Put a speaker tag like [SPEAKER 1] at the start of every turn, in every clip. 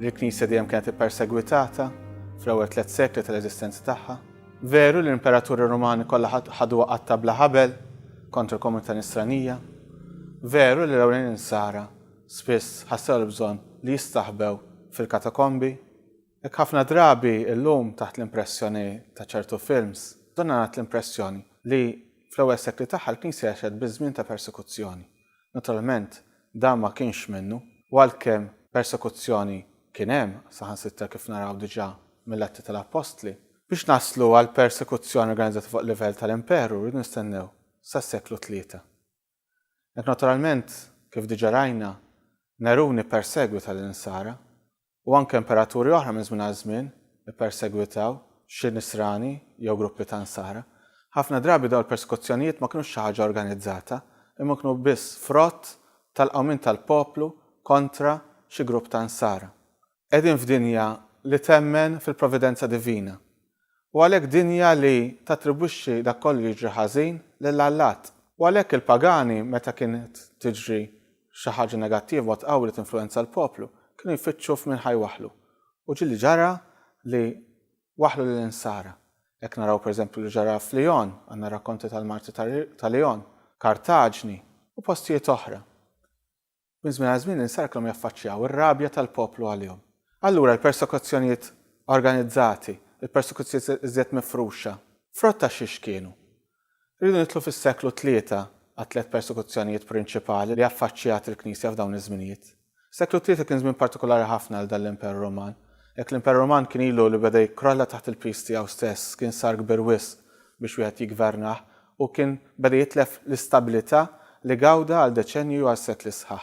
[SPEAKER 1] Il-Knisja dejjem kienet ippersegwitata fl-ewwel tliet sekli tal-eżistenza tagħha. Veru li l-imperaturi Rumani kollha ħadu waqgħat ta' bla ħabel kontra l-komunità Nisranija. Veru li l-ewlenin Insara spiss ħassew l-bżonn li jistaħbew fil-katakombi. Hekk ħafna drabi llum taħt l-impressjoni ta' ċertu films, donna ngħat l-impressjoni li fl-ewwel sekli tagħha l-Knisja għexet biż-żmien ta' persekuzzjoni. Naturalment, dan ma kienx minnu, u għalkemm persekuzzjoni kien hemm, saħansitra kif naraw diġà mill-Atti tal-Appostli, biex naslu għal persekuzzjoni organizzata fuq livell tal-imperu rridu nistennew sas-seklu tlieta. Hekk naturalment, kif diġà rajna, Nerun ippersegwita lill-Insara, u anke imperaturi oħra minn żmien għal żmien ippersegwitaw xi Nisrani jew gruppi ta' Nsara. Ħafna drabi dawn il-persekuzzjonijiet ma kinux xi ħaġa organizzata, imma kienu biss frott tal-qawmien tal-poplu kontra xi grupp ta' Nsara. Qegħdin f'dinja li temmen fil-providenza divina, u għalhekk dinja li tattribwixxi dak kollu li jiġri ħażin lil allat. U għalhekk il-pagani meta kienet tiġri xi ħaġa negattiva u tqawwi li tinfluwenza l-poplu, kienu jfittxu f'min ħa jwaħħlu. U ġieli ġara li waħħlu lill-insara. Hekk naraw pereżempju li ġara f'Lyon, għandna r-rakkonti tal-martri ta' Lyon, Kartaġni, u postijiet oħra. Minn żmien għal żmien insarklhom jaffaċċjaw ir-rabja tal-poplu għalihom. Allura l-persekuzzjonijiet organizzati, il-persekuzzjonijiet iżjed mifruxa, frott ta' xiex kienu? Irridu nidħlu fis-seklu tlieta għat-tliet persekuzzjonijiet prinċipali li affaċċjat il-Knisja f'dawn iż-żminijiet. Is-seklu tlieta kien żmien partikulari ħafna għal dan l-Imperu Ruman. Jekk l-Imperu Ruman kien ilu li beda jikkrolla taħt il-piż tiegħu stess, kien sar kbir wisq biex wieħed jiggvernah, u kien beda jitlef l-istabilità li gawda għal deċennju għal sekli sħaħ.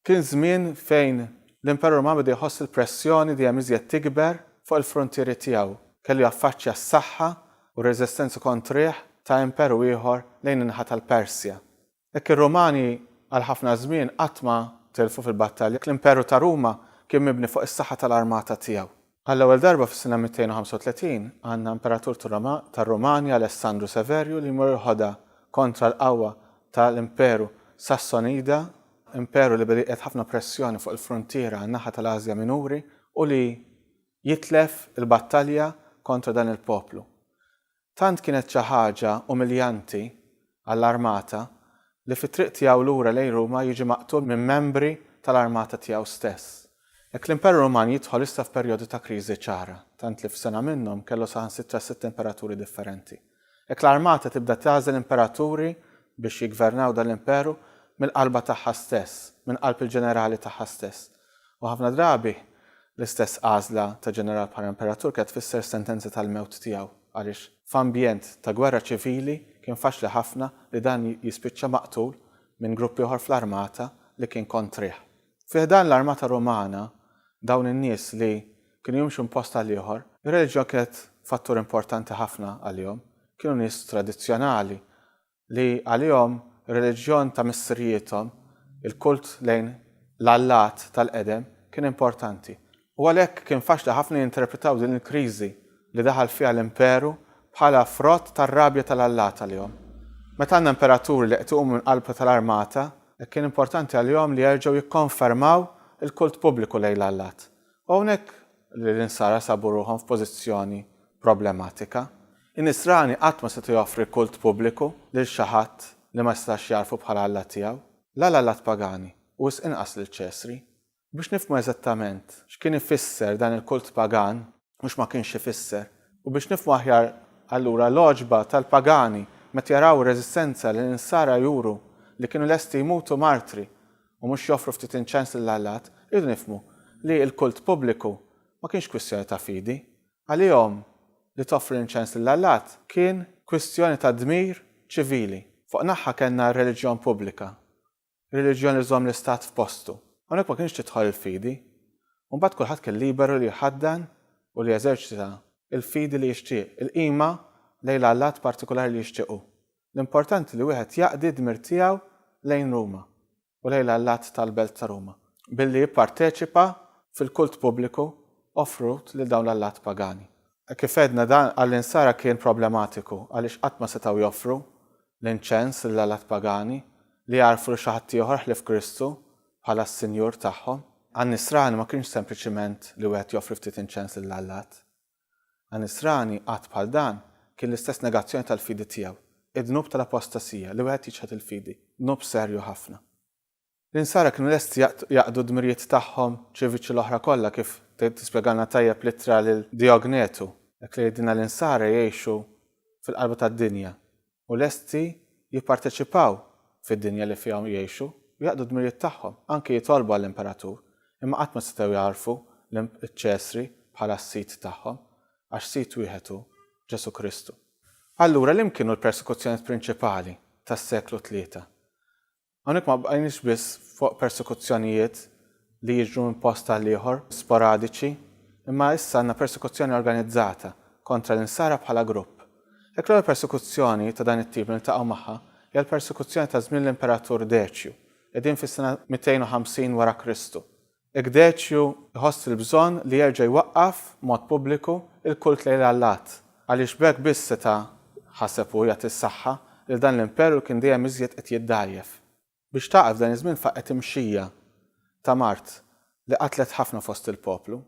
[SPEAKER 1] Kien żmien fejn l-Imperu Ruman beda jħoss il-pressjoni dejjem iżjed tikber fuq il-fruntieri tiegħu. Kellu jaffaċċja s-saħħa u r-reżistenza kontrih ta' imperu ieħor lejn in-naħa tal-Persja. Hekk ir-Rumani għal ħafna żmien qatt ma tilfu fil-battalja. L-Imperu ta' Ruma kien mibni fuq is-saħħa tal-armata tiegħu. Għall-ewwel darba fis-sena 235 għandna imperatur tar-Rumani Alessandru Severju li jmur il-ħoda kontra l-qawwa tal-Imperu Sassonida, imperu li beda jqiegħed ħafna pressjoni fuq il-fruntiera għan-naħa tal-Ażja Minuri u li jitlef il-battalja kontra dan il-poplu. Tant kienet xi ħaġa umiljanti għall-armata li fit-triq tiegħu lura lejn Ruma jiġi maqtul minn membri tal-armata tiegħu stess. Hekk l-Imperu Ruman jidħol issa f'perjodu ta' kriżi ċara, tant li f'sena minnhom kellu saħansitra sitt imperaturi differenti. Hekk l-armata tibda tagħżel imperaturi biex jiggvernaw dan l-imperu mill-qalba tagħha stess, minn qalb il-ġenerali tagħha stess. U ħafna drabi, l-istess għażla ta' ġeneral bħala imperatur kienet tfisser sentenza tal-mewt tiegħu, għaliex f'ambjent ta' gwerra ċivili kien faċli ħafna li dan jispiċċa maqtul minn grupp ieħor fl-armata li kien kontrih. Fi ħdan l-armata Rumana, dawn in-nies li kienu jimxu minn post għal ieħor, ir-reliġjon kienet fattur importanti ħafna għalihom. Kienu nies tradizzjonali li għalihom ir-reliġjon ta' missirijiethom, il-kult lejn l-allat tal-qedem, kien importanti, u għalhekk kien faċli ħafna jinterpretaw din il-kriżi li daħal fiha l-imperu bħala frott tar-rabja tal-allat għalihom. Meta għandna imperaturi li qed iqumu minn qalb tal-armata, kien importanti għalihom li jerġgħu jikkonfermaw il-kult pubbliku lejn l-allat, U hawnhekk li l-Insara sabu ruħhom f'pożizzjoni problematika. In-Nisrani qatt ma seta' joffri kult pubbliku lil xi ħadd li ma setax jagħrfu bħala Alla tiegħu, la l-allat pagani u wisq inqas lil Ċesri. Biex nifhmu eżattament x'kien ifisser dan il-kult pagan u x'ma kienx ifisser, u biex nifhmu aħjar allura l-għoġba tal-pagani meta jaraw ir-reżistenza li l-Insara juru li kienu lesti jmutu martri u mhux joffru ftit inċens lil allat, irridu nifhmu li l-kult pubbliku ma kienx kwistjoni ta' fidi. Għalihom, li toffri l-inċens lil allat kien kwistjoni ta' dmir ċivili. Fuq naħa kellna r-reliġjon pubblika, ir-reliġjon li żżomm l-istat f'postu. Hawnhekk ma kinitx tidħol il-fidi. U mbagħad kulħadd kien liberu li jħaddan u li jeżerċita l-fidi li jixtieq, il-qima lejn l-allat partikulari li jixtieq hu. l-importanti li wieħed jaqdi d-dmir tiegħu lejn Ruma u lejn l-allat tal-Belt ta' Ruma billi jipparteċipa fil-kult pubbliku offrut lil dawn l-allat pagani. Kif għedna dan għall-Insara kien problematiku għaliex qatt ma setgħu joffru l-inċens lill-allat pagani li jagħrfu lil xi ħadd ieħor ħlief Kristu bħala s-Sinjur tagħhom. Għan-Nisrani ma kienx sempliċiment li wieħed joffri ftit inċens lill-allat Anisrani, att bħal dan, kien l-istess negazzjoni tal-fidi tiegħu, id-dnub tal-apostasija, li wieħed jiċħad il-fidi, dnub serju ħafna. L-Insara kienu lesti jaqdu d-dmirijiet tagħhom ċiviċi l-oħra kollha kif tispjegalna tajjeb l-ittra lil Diognetu, hekk li jgħidilna l-Insara jgħixu fil-qalba tad-dinja, u lesti jipparteċipaw fid-dinja li fiha jgħixu u jaqdu d-dmirijiet tagħhom, anki jitolbu għall-imperatur, imma qatt ma setgħu jagħrfu liċ-Ċesri bħala s-sid tagħhom, għax sid wieħed hu, Ġesù Kristu. Allura liem'kienu l-persekuzzjonijiet prinċipali tas-seklu tlieta? Hawnhekk ma bqajniex biss fuq persekuzzjonijiet li jiġru minn post għal ieħor, sporadiċi, imma issa għandna persekuzzjoni organizzata kontra l-Insara bħala grupp. Jekk l-ewwel persekuzzjoni ta' dan it-tip li niltaqgħu magħha hija l-persekuzzjoni ta' żmien l-Imperatur Deċju, qegħdin fis-sena 250 wara Kristu, Igdecju jħoss il-bżonn li jerġa' jwaqqaf b'mod pubbliku l-kult lejn l-allat, għaliex b'hekk biss seta', ħaseb hu, jagħti s-saħħa lil dan l-imperu li kien dejjem iżjed qed jiddgħajjef. Biex tagħqaf dan iż-żmien faqgħet imxija ta' mard li qatlet ħafna fost il-poplu.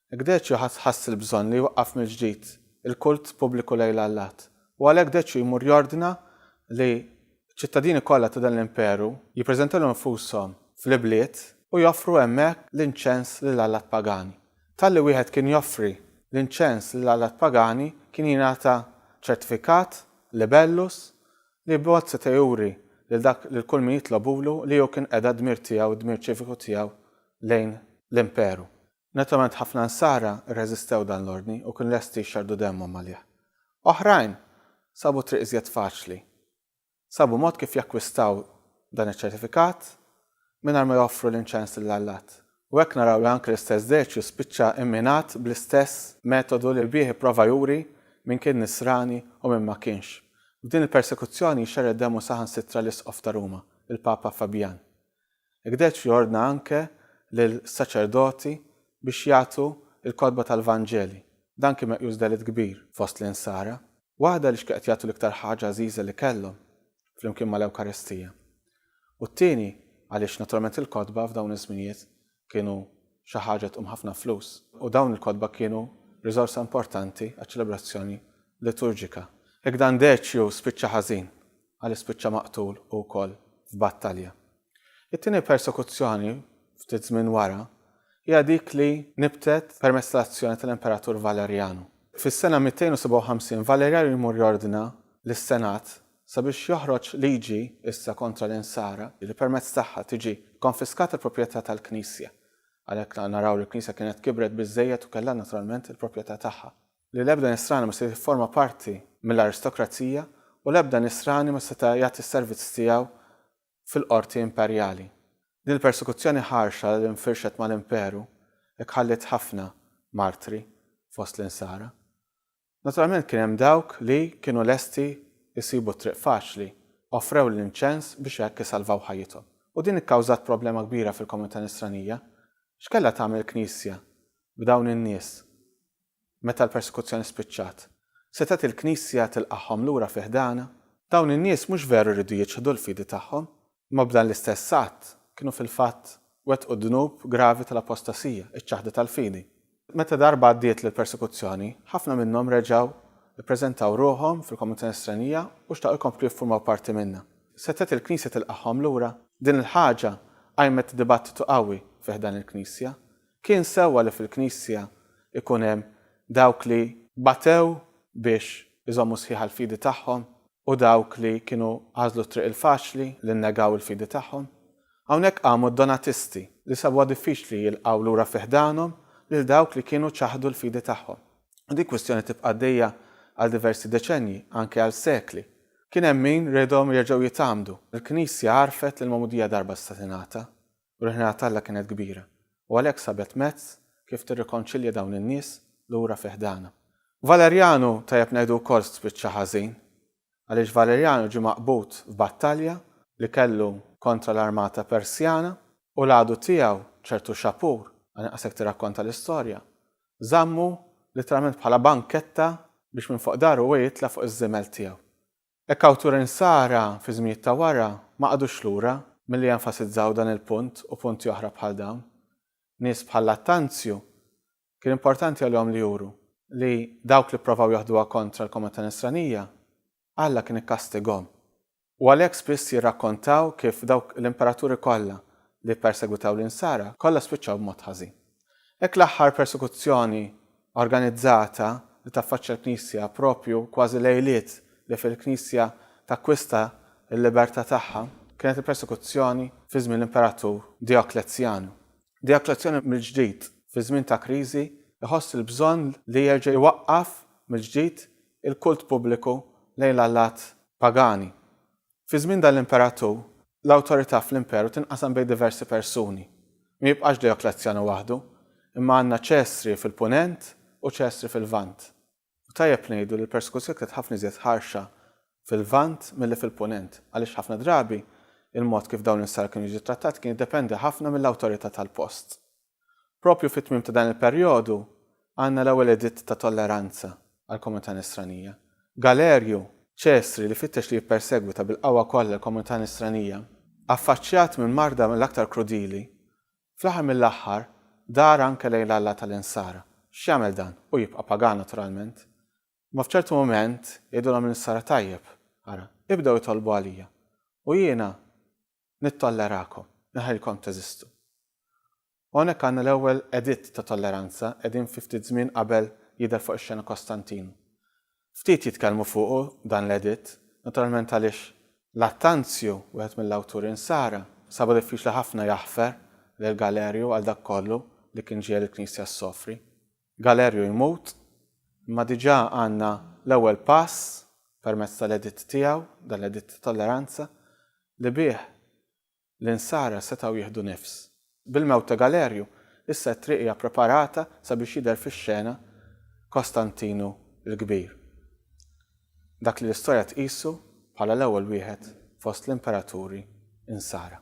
[SPEAKER 1] Hekk Deċju ħass il-bżonn li jwaqqaf mill-ġdid il-kult pubbliku lejl Allat, u għalhekk Deċju jmur jordna li ċ-ċittadini kollha ta' dan l-imperu jippreżentaw lil nfushom fl-ibliet u joffru hemmhekk l-inċens lil allat pagani. Talli wieħed kien joffri l-inċens lil allat pagani kien jingħata ċertifikat, libellus, li b'mod seta' juri lil dak lil kull min jitlobulu li hu kien qeda d-dmir tiegħu, d-dmir ċiviku tiegħu lejn l-imperu. Naturalment ħafna Nsara rreżistew dan l-ordni u kienu lesti jxerrdu demmhom għalih. Oħrajn sabu triq iżjed faċli. Sabu mod kif jakkwistaw dan iċ-ċertifikat mingħajr ma joffru l-inċens lil Allat. U hekk naraw li anke l-istess Deċju spiċċa imminat bl-istess metodu li bih ipprova juri min kien Nisrani u min ma kienx. F'din il-persekuzzjoni jxerred demmu saħansitra l-Isqof ta' Ruma, il-Papa Fabjan. Gdecz jordna anke lill-saċerdoti biex jagħtu l-kotba tal-Vanġeli. Dan kien meqjus delitt kbir fost l-Insara. Waħda li x'kieqed jagħtu l-iktar ħaġa għażiża li kellhom, flimkien mal-Ewkaristija. U t-tieni għaliex naturalment il-kotba f'dawn iż-żminijiet kienu xi ħaġa tqum ħafna flus, u dawn il-kotba kienu riżorsa importanti għaċ-ċelebrazzjoni liturġika. Hekk dan Deċju spiċċa ħażin, għaliex spiċċa maqtul hu wkoll f'battalja. It-tieni persekuzzjoni, ftit żmien wara, hija dik li nibtet permezz tal-azzjoni tal-Imperatur Valerjanu. Fis-sena 257 Valerjanu jmur jordna lis-Senat Sabiex joħroġ liġi issa kontra l-Insara li permezz tagħha tiġi kkonfiskata l-proprjetà tal-Knisja. Għalhekk naraw li l-Knisja kienet kibret biżżejjed u kellha naturalment il-proprjetà tagħha. Li l-ebda Nisrani ma seta' jifforma parti mill-aristokrazija u l-ebda Nisrani ma seta' jagħti s-servizz tiegħu fil-qorti imperjali. Din il-persekuzzjoni ħarxa li nfirxet mal-Imperu hekk ħalliet ħafna martri fost l-Insara. Naturalment kien hemm dawk li kienu lesti jsibu t-triq faċli, offrew l-inċens biex hekk isalvaw ħajjithom. U din ikkawżat problema kbira fil-komunità Nisranija. X'kellha tagħmel il-Knisja b'dawn in-nies meta l-persekuzzjoni spiċċat? Setgħet il-Knisja tilqagħhom lura fi ħdanha? Dawn in-nies mhux veru jridu jiċħdu l-fidi tagħhom, Imma b'dan l-istess att, kienu fil-fatt wettqu d-dnub gravi tal-apostasija, iċ-ċaħda tal-fidi. Meta darba għaddiet l-persekuzzjoni, ħafna minnhom reġgħu ppreżentaw ruħhom fil-komunità Nisranija u xtaqu jkomplu jiffurmaw parti minnha. Setgħet il-Knisja tilqagħhom lura? Din il-ħaġa qajmet dibattitu qawwi fi ħdan il-Knisja. Kien sewwa li fil-Knisja jkun hemm dawk li batew biex iżommu sħiħa l-fidi tagħhom u dawk li kienu għażlu t-triq il-faċli li nnegaw il-fidi tagħhom. Hawnhekk qamu d-Donatisti li sabuha diffiċli jilqgħu lura fi ħdanhom lil dawk li kienu ċaħdu l-fidi tagħhom. U din kwistjoni tibqa' għaddejja għal diversi deċennji, anke għal sekli. Kien hemm min riedhom jerġgħu jitgħammdu. Il-Knisja għarfet li l-magħmudija darba setgħa tingħata, u l-ħniena t'Alla kienet kbira, u għalhekk sabet mezz kif tirrikonċilja dawn in-nies lura fi ħdanha. Valerianu, tajjeb ngħidu wkoll, spiċċa ħażin, għaliex Valerianu ġie maqbud f'battalja li kellu kontra l-armata Persjana, u l-għadu tiegħu, ċertu Xapur, għal inqas hekk tirrakkonta l-istorja, żammu litteralment bħala banketta biex minn fuq daru huwa jitla' fuq iż-żiemel tiegħu. Il-kawturi Nsara fi żminijiet ta' wara ma qagħdux lura milli jenfasizzaw dan il-punt u punti oħra bħal dawn. Nies bħal Lattanzju kien importanti għalihom li juru li dawk li pprovaw joħduha kontra l-komunità Nisranija, Alla kien ikkastigahom. U għalhekk spiss jirrakkontaw kif dawk l-imperaturi kollha li ppersegwitaw lin-Nsara kollha spiċċaw b'mod ħażin. Hekk l-aħħar persekuzzjoni organizzata li taffaċċja l-Knisja proprju kważi lejliet li fil-Knisja takkwista l-libertà tagħha kienet il-persekuzzjoni fi żmien l-Imperatur Dioklezzjanu. Dioklezzjanu mill-ġdid fi żmien ta' kriżi jħoss il-bżonn li jerġa' jwaqqaf mill-ġdid il-kult pubbliku lejn l-allat pagani Fi żmien dan l-imperatur, l-awtorità fl-imperu tinqasam bejn diversi persuni. Ma jibqax Dejoklezzjanu waħdu, imma għandna Ċesri fil-Punent u Ċesri fil-Lvant. U tajjeb ngħidu li l-persekuzzjoni kienet ħafna iżjed ħarxa fil-Lvant milli fil-Punent, għaliex ħafna drabi il-mod kif dawn l-insara kienu jiġu ttrattati kien jiddependi ħafna mill-awtorità tal-post. Proprju fit-tmiem ta' dan il-perjodu għandna l-ewwel editt ta' tolleranza għall-komunità Nisranija. Galerju, Ċesri li fittex li jippersegwita bil-qawwa kollha l-komunità Nisranija, affaċċjat minn marda mill-aktar krudili, fl-aħħar mill-aħħar dar anke lejn l-Alla tal-Insara. X'jagħmel dan? Hu jibqa' pagan naturalment. Imma f'ċertu mument jgħidulhom lin-Nisara tajjeb, ara, ibdew itolbu għalija u jiena Nittollerakom, inħallilkom teżistu. Hawnhekk għandna l-ewwel editt ta' tolleranza, qegħdin fi ftit żmien qabel jidher fuq ix-xena Kostantinu. Ftit jitkellmu fuqu dan l-editt, naturalment għaliex Lattanzju, wieħed mill-awturi Nsara, sabu diffiċli ħafna jaħfer lil Galerju għal dak kollu li kien ġiegħel il-Knisja ssofri. Galerju jmut, imma diġà għandna l-ewwel pass permezz tal-editt tiegħu, dan l-editt ta' tolleranza, li bih l-Insara setgħu jieħdu nifs. Bil-mewt ta' Galerju, issa t-triq hija ppreparata sabiex jidher fix-xena Kostantinu l-Kbir, dak li l-istorja tqisu bħala l-ewwel wieħed fost l-imperaturi Insara.